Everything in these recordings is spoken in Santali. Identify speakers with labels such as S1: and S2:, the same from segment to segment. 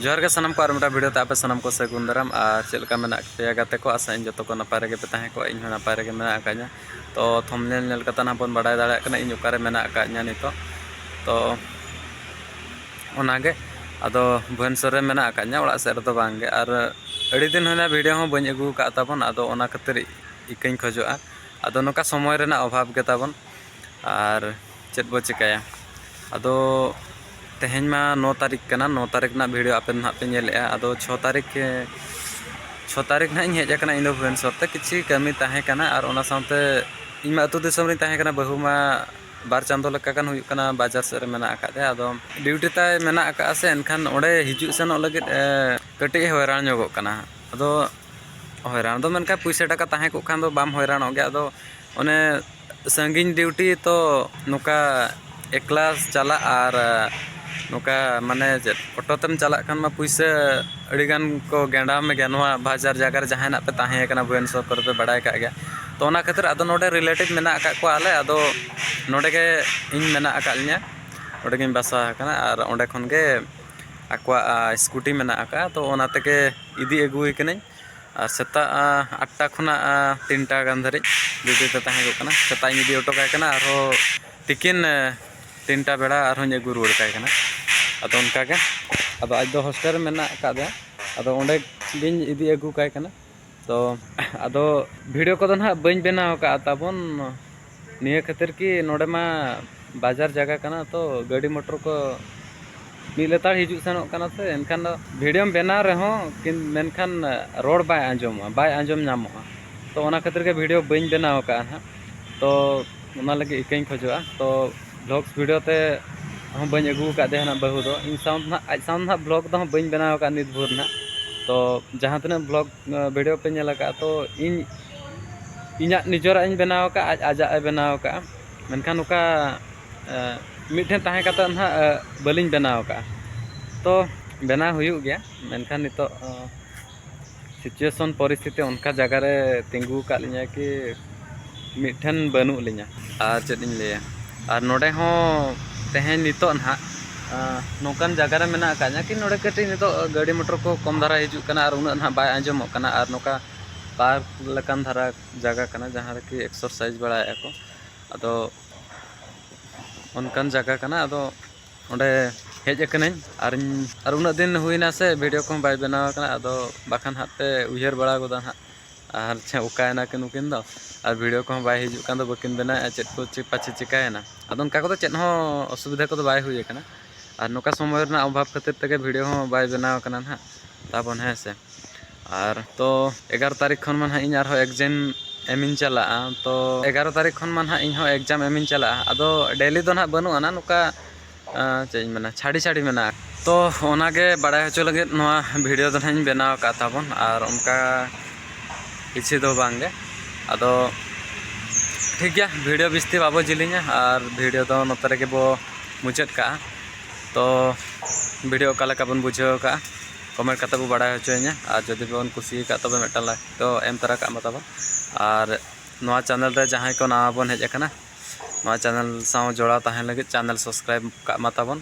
S1: ᱡᱚᱦᱟᱨ ᱜᱮ ᱥᱟᱱᱟᱢ ᱠᱚ ᱟᱨ ᱢᱤᱫᱴᱟᱝ ᱵᱷᱤᱰᱤᱭᱳ ᱛᱮ ᱟᱯᱮ ᱥᱟᱱᱟᱢ ᱠᱚ ᱥᱟᱹᱜᱩᱱ ᱫᱟᱨᱟᱢ ᱟᱨ ᱪᱮᱫ ᱞᱮᱠᱟ ᱢᱮᱱᱟᱜ ᱯᱮᱭᱟ ᱜᱟᱛᱮ ᱠᱚ ᱟᱥᱟ ᱤᱧ ᱡᱚᱛᱚ ᱠᱚ ᱱᱟᱯᱟᱭ ᱨᱮᱜᱮ ᱯᱮ ᱛᱟᱦᱮᱸ ᱠᱚᱜᱼᱟ ᱤᱧ ᱦᱚᱸ ᱱᱟᱯᱟᱭ ᱨᱮᱜᱮ ᱢᱮᱱᱟᱜ ᱟᱠᱟᱫᱤᱧᱟ ᱛᱚ ᱛᱷᱚᱢᱱᱮᱞ ᱧᱮᱞ ᱠᱟᱛᱮ ᱱᱟᱦᱟᱜ ᱵᱚᱱ ᱵᱟᱰᱟᱭ ᱫᱟᱲᱮᱭᱟᱜ ᱠᱟᱱᱟ ᱤᱧ ᱚᱠᱟᱨᱮ ᱢᱮᱱᱟᱜ ᱟᱠᱟᱫᱤᱧᱟ ᱱᱤᱛᱚᱜ ᱛᱚ ᱚᱱᱟᱜᱮ ᱟᱫᱚ ᱵᱷᱩᱵᱮᱱᱥᱚᱨ ᱨᱮ ᱢᱮᱱᱟᱜ ᱟᱠᱟᱫᱤᱧᱟ ᱚᱲᱟᱜ ᱥᱮᱫ ᱨᱮᱫᱚ ᱵᱟᱝᱜᱮ ᱟᱨ ᱟᱹᱰᱤ ᱫᱤᱱ ᱦᱩᱭᱱᱟ ᱵᱷᱤᱰᱤᱭᱳ ᱦᱚᱸ ᱵᱟᱹᱧ ᱟᱹᱜᱩ ᱟᱠᱟᱫ ᱛᱟᱵᱚᱱ ᱟᱫᱚ ᱚᱱᱟ ᱠᱷᱟᱹᱛᱤᱨ ᱤᱠᱟᱹᱧ ᱠᱷᱚᱡᱚᱜᱼᱟ ᱟᱫᱚ ᱱᱚᱝᱠᱟ ᱥᱚᱢᱚᱭ ᱨᱮᱱᱟᱜ ᱚᱵᱷᱟᱵᱽ ᱜᱮᱛᱟᱵᱚᱱ ᱟᱨ ᱪᱮᱫ ᱵᱚ ᱪᱮᱠᱟᱭᱟ ᱟᱫᱚ ᱛᱮᱦᱮᱧ ᱢᱟ ᱱᱚ ᱛᱟᱹᱨᱤᱠᱷ ᱠᱟᱱᱟ ᱱᱚ ᱛᱟᱹᱨᱤᱠᱷ ᱨᱮᱱᱟᱜ ᱵᱷᱤᱰᱤᱭᱳ ᱟᱯᱮ ᱱᱟᱦᱟᱜ ᱯᱮ ᱧᱮᱞᱮᱜᱼᱟ ᱟᱫᱚ ᱪᱷᱚ ᱛᱟᱹᱨᱤᱠᱷ ᱪᱷᱚ ᱛᱟᱹᱨᱤᱠᱷ ᱱᱟᱦᱟᱜ ᱤᱧ ᱦᱮᱡ ᱟᱠᱟᱱᱟ ᱤᱧ ᱫᱚ ᱵᱷᱩᱵᱽᱱᱮᱥᱚᱨ ᱛᱮ ᱠᱤᱪᱷᱩ ᱠᱟᱹᱢᱤ ᱛᱟᱦᱮᱸ ᱠᱟᱱᱟ ᱟᱨ ᱚᱱᱟ ᱥᱟᱶᱛᱮ ᱤᱧ ᱢᱟ ᱟᱹᱛᱩ ᱫᱤᱥᱚᱢ ᱨᱤᱧ ᱛᱟᱦᱮᱸ ᱠᱟᱱᱟ ᱵᱟᱹᱦᱩ ᱢᱟ ᱵᱟᱨ ᱪᱟᱸᱫᱚ ᱞᱮᱠᱟ ᱜᱟᱱ ᱦᱩᱭᱩᱜ ᱠᱟᱱᱟ ᱵᱟᱡᱟᱨ ᱥᱮᱫ ᱨᱮ ᱢᱮᱱᱟᱜ ᱟᱠᱟᱫᱮᱭᱟ ᱟᱫᱚ ᱰᱤᱭᱩᱴᱤ ᱛᱟᱭ ᱢᱮᱱᱟᱜ ᱟᱠᱟᱫᱼᱟ ᱥᱮ ᱮᱱᱠᱷᱟᱱ ᱚᱸᱰᱮ ᱦᱤᱡᱩᱜ ᱥᱮᱱᱚᱜ ᱞᱟᱹᱜᱤᱫ ᱠᱟᱹᱴᱤᱡ ᱮ ᱦᱚᱭᱨᱟᱱ ᱧᱚᱜᱚᱜ ᱠᱟᱱᱟ ᱟᱫᱚ ᱦᱚᱭᱨᱟᱱ ᱫᱚ ᱢᱮᱱᱠᱷᱟᱱ ᱯᱩᱭᱥᱟᱹ ᱴᱟᱠᱟ ᱛᱟᱦᱮᱸ ᱠᱚᱜ ᱠᱷᱟᱱ ᱫᱚ ᱵᱟᱢ ᱦᱚᱭᱨᱟᱱᱚᱜ ᱜᱮᱭᱟ ᱟᱫᱚ ᱚᱱᱮ ᱥᱟᱺᱜᱤᱧ ᱰᱤᱭᱩᱴᱤ ᱛᱚ ᱱᱚᱝᱠᱟ ᱮᱠᱞᱟ ᱪᱟᱞᱟᱜ ᱟᱨ ᱱᱚᱝᱠᱟ ᱢᱟᱱᱮ ᱪᱮᱫ ᱚᱴᱳ ᱛᱮᱢ ᱪᱟᱞᱟᱜ ᱠᱷᱟᱱ ᱢᱟ ᱯᱩᱭᱥᱟᱹ ᱟᱹᱰᱤᱜᱟᱱ ᱠᱚ ᱜᱮᱸᱰᱟᱣ ᱢᱮᱜᱮᱭᱟ ᱱᱚᱣᱟ ᱵᱟᱡᱟᱨ ᱡᱟᱭᱜᱟ ᱨᱮ ᱡᱟᱦᱟᱸᱭ ᱱᱟᱦᱟᱜ ᱯᱮ ᱛᱟᱦᱮᱸ ᱠᱟᱱᱟ ᱵᱷᱩᱵᱽᱱᱮᱥᱥᱚᱨ ᱠᱚᱨᱮᱜ ᱯᱮ ᱵᱟᱲᱟᱭ ᱠᱟᱜ ᱜᱮᱭᱟ ᱛᱚ ᱚᱱᱟ ᱠᱷᱟᱹᱛᱤᱨ ᱟᱫᱚ ᱱᱚᱰᱮ ᱨᱤᱞᱮᱴᱤᱵᱽ ᱢᱮᱱᱟᱜ ᱠᱟᱜ ᱠᱚᱣᱟ ᱟᱞᱮ ᱟᱫᱚ ᱱᱚᱰᱮ ᱜᱮ ᱤᱧ ᱢᱮᱱᱟᱜ ᱠᱟᱜ ᱞᱤᱧᱟ ᱱᱚᱰᱮ ᱜᱮᱧ ᱵᱟᱥᱟ ᱟᱠᱟᱱᱟ ᱟᱨ ᱚᱸᱰᱮ ᱠᱷᱚᱱ ᱜᱮ ᱟᱠᱚᱣᱟᱜ ᱥᱠᱩᱴᱤ ᱢᱮᱱᱟᱜ ᱠᱟᱜᱼᱟ ᱛᱚ ᱚᱱᱟ ᱛᱮᱜᱮ ᱤᱫᱤ ᱟᱹᱜᱩᱭᱮ ᱠᱟᱹᱱᱟᱹᱧ ᱟᱨ ᱥᱮᱛᱟᱜ ᱟᱴᱴᱟ ᱠᱷᱚᱱᱟᱜ ᱛᱤᱱᱴᱟ ᱜᱟᱱ ᱫᱷᱟᱹᱨᱤᱡ ᱰᱤᱭᱩᱴᱤ ᱛᱮ ᱛᱟᱦᱮᱸ ᱠᱚᱜ ᱠᱟᱱᱟ ᱥᱮᱛᱟᱜ ᱤᱧ ᱤᱫᱤ ᱦᱚᱴᱚ ᱠᱟᱭ ᱠᱟᱱᱟ ᱟᱨᱦᱚᱸ ᱛᱤᱠᱤᱱ ᱛᱤᱱᱴᱟ ᱵᱮᱲᱟ ᱟᱨᱦᱚᱸᱧ ᱟᱹᱜᱩ ᱨᱩᱣᱟᱹᱲ ᱠᱟᱭ ᱠᱟᱱᱟ ᱟᱫᱚ ᱚᱱᱠᱟ ᱜᱮ ᱟᱫᱚ ᱟᱡ ᱫᱚ ᱦᱳᱥᱴᱮᱞ ᱨᱮ ᱢᱮᱱᱟᱜ ᱟᱠᱟᱫᱮᱭᱟ ᱟᱫᱚ ᱚᱸᱰᱮ ᱜᱤᱧ ᱤᱫᱤ ᱟᱹᱜᱩ ᱠᱟᱭ ᱠᱟᱱᱟ ᱛᱚ ᱟᱫᱚ ᱵᱷᱤᱰᱤᱭᱳ ᱠᱚᱫᱚ ᱦᱟᱸᱜ ᱵᱟᱹᱧ ᱵᱮᱱᱟᱣ ᱠᱟᱜᱼᱟ ᱛᱟᱵᱚᱱ ᱱᱤᱭᱟᱹ ᱠᱷᱟᱹᱛᱤᱨ ᱠᱤ ᱱᱚᱰᱮ ᱢᱟ ᱵᱟᱡᱟᱨ ᱡᱟᱭᱜᱟ ᱠᱟᱱᱟ ᱛᱚ ᱜᱟᱹᱰᱤ ᱢᱚᱴᱚᱨ ᱠᱚ ᱢᱤᱫ ᱞᱮᱛᱟᱲ ᱦᱤᱡᱩᱜ ᱥᱮᱱᱚᱜ ᱠᱟᱱᱟ ᱥᱮ ᱮᱱᱠᱷᱟᱱ ᱫᱚ ᱵᱷᱤᱰᱤᱭᱳᱢ ᱵᱮᱱᱟᱣ ᱨᱮᱦᱚᱸ ᱢᱮᱱᱠᱷᱟᱱ ᱨᱚᱲ ᱵᱟᱭ ᱟᱸᱡᱚᱢᱚᱜᱼᱟ ᱵᱟᱭ ᱟᱸᱡᱚᱢ ᱧᱟᱢᱚᱜᱼᱟ ᱛᱚ ᱚᱱᱟ ᱠᱷᱟᱹᱛᱤᱨ ᱜᱮ ᱵᱷᱤᱰᱤᱭᱳ ᱵᱟᱹᱧ ᱵᱮᱱᱟᱣ ᱟᱠᱟᱫᱼᱟ ᱦᱟᱸᱜ ᱛᱚ ᱚᱱᱟ ᱞᱟᱹᱜᱤᱫ ᱤᱠᱟᱹᱧ ᱠᱷᱚᱡᱚᱜᱼᱟ ᱛᱚ ᱵᱷᱞᱚᱜᱥ ᱵᱷᱤᱰᱤᱭᱳ ᱛᱮ ᱦᱚᱸ ᱵᱟᱹᱧ ᱟᱹᱜᱩ ᱟᱠᱟᱫᱮᱭᱟ ᱦᱟᱸᱜ ᱵᱟᱹᱦᱩ ᱫᱚ ᱤᱧ ᱥᱟᱶ ᱫᱚ ᱦᱟᱸᱜ ᱟᱡ ᱥᱟᱶ ᱫᱚ ᱦᱟᱸᱜ ᱵᱷᱞᱚᱜᱽ ᱫᱚ ᱦᱟᱸᱜ ᱵᱟᱹᱧ ᱵᱮᱱᱟᱣ ᱟᱠᱟᱫᱼᱟ ᱱᱤᱛ ᱵᱷᱳᱨ ᱦᱟᱸᱜ ᱛᱚ ᱡᱟᱦᱟᱸ ᱛᱤᱱᱟᱹᱜ ᱵᱷᱞᱚᱜᱽ ᱱᱚᱣᱟ ᱵᱷᱤᱰᱤᱭᱳ ᱯᱮ ᱧᱮᱞ ᱟᱠᱟᱫᱼᱟ ᱛᱚ ᱤᱧ ᱤᱧᱟᱹᱜ ᱱᱤᱡᱮᱨᱟᱜ ᱤᱧ ᱵᱮᱱᱟᱣ ᱟᱠᱟᱫᱼᱟ ᱟᱡ ᱟᱡᱟᱜ ᱮ ᱵᱮᱱᱟᱣ ᱟᱠᱟᱫᱼᱟ ᱢᱮᱱᱠᱷᱟᱱ ᱱᱚᱝᱠᱟ ᱢᱤᱫ ᱴᱷᱮᱱ ᱛᱟᱦᱮᱸ ᱠᱟᱛᱮᱫ ᱦᱟᱸᱜ ᱵᱟᱹᱞᱤᱧ ᱵᱮᱱᱟᱣ ᱟᱠᱟᱫᱼᱟ ᱛᱚ ᱵᱮᱱᱟᱣ ᱦᱩᱭᱩᱜ ᱜᱮᱭᱟ ᱢᱮᱱᱠᱷᱟᱱ ᱱᱤᱛᱚᱜ ᱥᱤᱪᱩᱭᱮᱥᱚᱱ ᱯᱚᱨᱤᱥᱛᱷᱤᱛᱤ ᱚᱱᱠᱟ ᱡᱟᱭᱜᱟ ᱨᱮ ᱛᱤᱸᱜᱩ ᱟᱠᱟᱫ ᱞᱤᱧᱟᱹ ᱠᱤ ᱢᱤᱫ ᱴᱷᱮᱱ ᱵᱟᱹᱱᱩᱜ ᱞᱤᱧᱟᱹ ᱟᱨ ᱪᱮᱫ ᱤᱧ ᱞᱟᱹᱭᱟ ᱟᱨ ᱱᱚᱰᱮ ᱦᱚᱸ ᱛᱮᱦᱮᱧ ᱱᱤᱛᱚᱜ ᱱᱟᱦᱟᱜ ᱱᱚᱝᱠᱟᱱ ᱡᱟᱭᱜᱟ ᱨᱮ ᱢᱮᱱᱟᱜ ᱟᱠᱟᱫ ᱞᱤᱧᱟᱹ ᱠᱤ ᱱᱚᱰᱮ ᱠᱟᱹᱴᱤᱡ ᱱᱤᱛᱚᱜ ᱜᱟᱹᱰᱤ ᱢᱚᱴᱚᱨ ᱠᱚ ᱠᱚᱢ ᱫᱷᱟᱨᱟ ᱦᱤᱡᱩᱜ ᱠᱟᱱᱟ ᱟᱨ ᱩᱱᱟᱹᱜ ᱱᱟᱦᱟᱜ ᱵᱟᱭ ᱟᱸᱡᱚᱢᱚᱜ ᱠᱟᱱᱟ ᱟᱨ ᱱᱚᱝᱠᱟ ᱯᱟᱨᱠ ᱞᱮᱠᱟᱱ ᱫᱷᱟᱨᱟ ᱡᱟᱭᱜᱟ ᱠᱟᱱᱟ ᱡᱟᱦᱟᱸ ᱨᱮᱠᱤ ᱮᱠᱥᱟᱨᱥᱟᱭᱤᱡᱽ ᱵᱟᱲᱟᱭᱮᱫᱼᱟ ᱠᱚ ᱟᱫᱚ ᱚᱱᱠᱟᱱ ᱡᱟᱭᱜᱟ ᱠᱟᱱᱟ ᱟᱫᱚ ᱚᱸᱰᱮ ᱦᱮᱡ ᱟᱠᱟᱱᱟᱹᱧ ᱟᱨᱤᱧ ᱟᱨ ᱩᱱᱟᱹᱜ ᱫᱤᱱ ᱦᱩᱭᱱᱟ ᱥᱮ ᱵᱷᱤᱰᱭᱳ ᱠᱚᱦᱚᱸ ᱵᱟᱭ ᱵᱮᱱᱟᱣ ᱟᱠᱟᱱᱟ ᱟᱫᱚ ᱵᱟᱠᱷᱟᱱ ᱦᱟᱸᱜ ᱯᱮ ᱩᱭᱦᱟᱹᱨ ᱵᱟᱲᱟ ᱜᱚᱫᱟ ᱦᱟᱸᱜ ᱟᱨ ᱪᱮᱫ ᱚᱠᱟᱭᱮᱱᱟ ᱠᱤᱱ ᱱᱩᱠᱤᱱ ᱫᱚ ᱟᱨ ᱵᱷᱤᱰᱤᱭᱳ ᱠᱚᱦᱚᱸ ᱵᱟᱭ ᱦᱤᱡᱩᱜ ᱠᱟᱱ ᱫᱚ ᱵᱟᱹᱠᱤᱱ ᱵᱮᱱᱟᱣᱮᱫᱼᱟ ᱪᱮᱫ ᱠᱚ ᱪᱮᱫ ᱯᱟᱪᱮ ᱪᱤᱠᱟᱹᱭᱮᱱᱟ ᱟᱫᱚ ᱚᱱᱠᱟ ᱠᱚᱫᱚ ᱪᱮᱫ ᱦᱚᱸ ᱚᱥᱩᱵᱤᱫᱷᱟ ᱠᱚᱫᱚ ᱵᱟᱭ ᱦᱩᱭ ᱠᱟᱱᱟ ᱟᱨ ᱱᱚᱝᱠᱟ ᱥᱚᱢᱚᱭ ᱨᱮᱱᱟᱜ ᱚᱵᱷᱟᱵᱽ ᱠᱷᱟᱹᱛᱤᱨ ᱛᱮᱜᱮ ᱵᱷᱤᱰᱤᱭᱳ ᱦᱚᱸ ᱵᱟᱭ ᱵᱮᱱᱟᱣ ᱠᱟᱱᱟ ᱦᱟᱸᱜ ᱛᱟᱵᱚᱱ ᱦᱮᱸ ᱥᱮ ᱟᱨ ᱛᱚ ᱮᱜᱟᱨᱚ ᱛᱟᱹᱨᱤᱠᱷ ᱠᱷᱚᱱ ᱢᱟ ᱦᱟᱸᱜ ᱤᱧ ᱟᱨᱦᱚᱸ ᱮᱠᱡᱟᱢ ᱮᱢᱤᱧ ᱪᱟᱞᱟᱜᱼᱟ ᱛᱚ ᱮᱜᱟᱨᱚ ᱛᱟᱹᱨᱤᱠᱷ ᱠᱷᱚᱱ ᱢᱟ ᱦᱟᱸᱜ ᱤᱧ ᱦᱚᱸ ᱮᱠᱡᱟᱢ ᱮᱢᱤᱧ ᱪᱟᱞᱟᱜᱼᱟ ᱟᱫᱚ ᱰᱮᱞᱤ ᱫᱚ ᱦᱟᱸᱜ ᱵᱟᱹᱱᱩᱜ ᱟᱱᱟᱝ ᱱᱚᱝᱠᱟ ᱪᱮᱫ ᱤᱧ ᱢᱮᱱᱟ ᱪᱷᱟᱹᱲᱤ ᱪᱷᱟᱹᱲᱤ ᱢᱮᱱᱟᱜᱼᱟ ᱛᱚ ᱚᱱᱟᱜᱮ ᱵᱟᱲᱟᱭ ᱦᱚᱪᱚ ᱞᱟᱹᱜᱤᱫ ᱱᱚᱣᱟ ᱵᱷᱤᱰᱤᱭᱳ ᱫᱚ ᱱᱟᱦᱟᱜ ᱤᱧ ᱵᱮᱱᱟᱣ ᱟᱠᱟᱫ ᱛᱟᱵᱚᱱ ᱟᱨ ᱚᱱᱠᱟ ᱠᱤᱪᱷᱩ ᱫᱚ ᱵᱟᱝᱜᱮ ᱟᱫᱚ ᱴᱷᱤᱠ ᱜᱮᱭᱟ ᱵᱷᱤᱰᱤᱭᱳ ᱵᱤᱥᱛᱤ ᱵᱟᱵᱚ ᱡᱤᱞᱤᱧᱟ ᱟᱨ ᱵᱷᱤᱰᱤᱭᱳ ᱫᱚ ᱱᱚᱛᱮ ᱨᱮᱜᱮ ᱵᱚ ᱢᱩᱪᱟᱹᱫ ᱠᱟᱜᱼᱟ ᱛᱚ ᱵᱷᱤᱰᱤᱭᱳ ᱚᱠᱟ ᱞᱮᱠᱟ ᱵᱚᱱ ᱵᱩᱡᱷᱟᱹᱣ ᱠᱟᱜᱼᱟ ᱠᱚᱢᱮᱱᱴ ᱠᱟᱛᱮ ᱵᱚ ᱵᱟᱲᱟᱭ ᱦᱚᱪᱚᱭᱤᱧᱟ ᱟᱨ ᱡᱩᱫᱤ ᱵᱚᱱ ᱠᱩᱥᱤ ᱟᱠᱟᱫ ᱛᱚᱵᱮ ᱢᱤᱫᱴᱟᱝ ᱞᱟᱭᱤᱠ ᱫᱚ ᱮᱢ ᱛᱚᱨᱟ ᱠᱟᱜ ᱢᱟ ᱛᱟᱵᱚᱱ ᱟᱨ ᱱᱚᱣᱟ ᱪᱮᱱᱮᱞ ᱨᱮ ᱡᱟᱦᱟᱸᱭ ᱠᱚ ᱱᱟᱣᱟ ᱵᱚᱱ ᱦᱮᱡ ᱟᱠᱟᱱᱟ ᱱᱚᱣᱟ ᱪᱮᱱᱮᱞ ᱥᱟᱶ ᱡᱚᱲᱟᱣ ᱛᱟᱦᱮᱱ ᱞᱟᱹᱜᱤᱫ ᱪᱮᱱᱮᱞ ᱥᱟᱵᱥᱠᱨᱟᱭᱤᱵ ᱠᱟᱜ ᱢᱟ ᱛᱟᱵᱚᱱ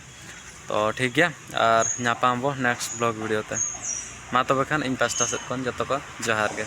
S1: ᱛᱚ ᱴᱷᱤᱠ ᱜᱮᱭᱟ ᱟᱨ ᱧᱟᱯᱟᱢ ᱟᱵᱚ ᱱᱮᱠᱥᱴ ᱵᱞᱚᱜ ᱵᱷᱤᱰᱤᱭᱳ ᱛᱮ ᱢᱟ ᱛᱚᱵᱮ ᱠᱷᱟᱱ ᱤᱧ ᱯᱟᱥᱴᱟ ᱥᱮᱫ ᱠᱷᱚᱱ ᱡᱚᱛᱚ ᱠᱚ ᱡᱚᱦᱟᱨ ᱜᱮ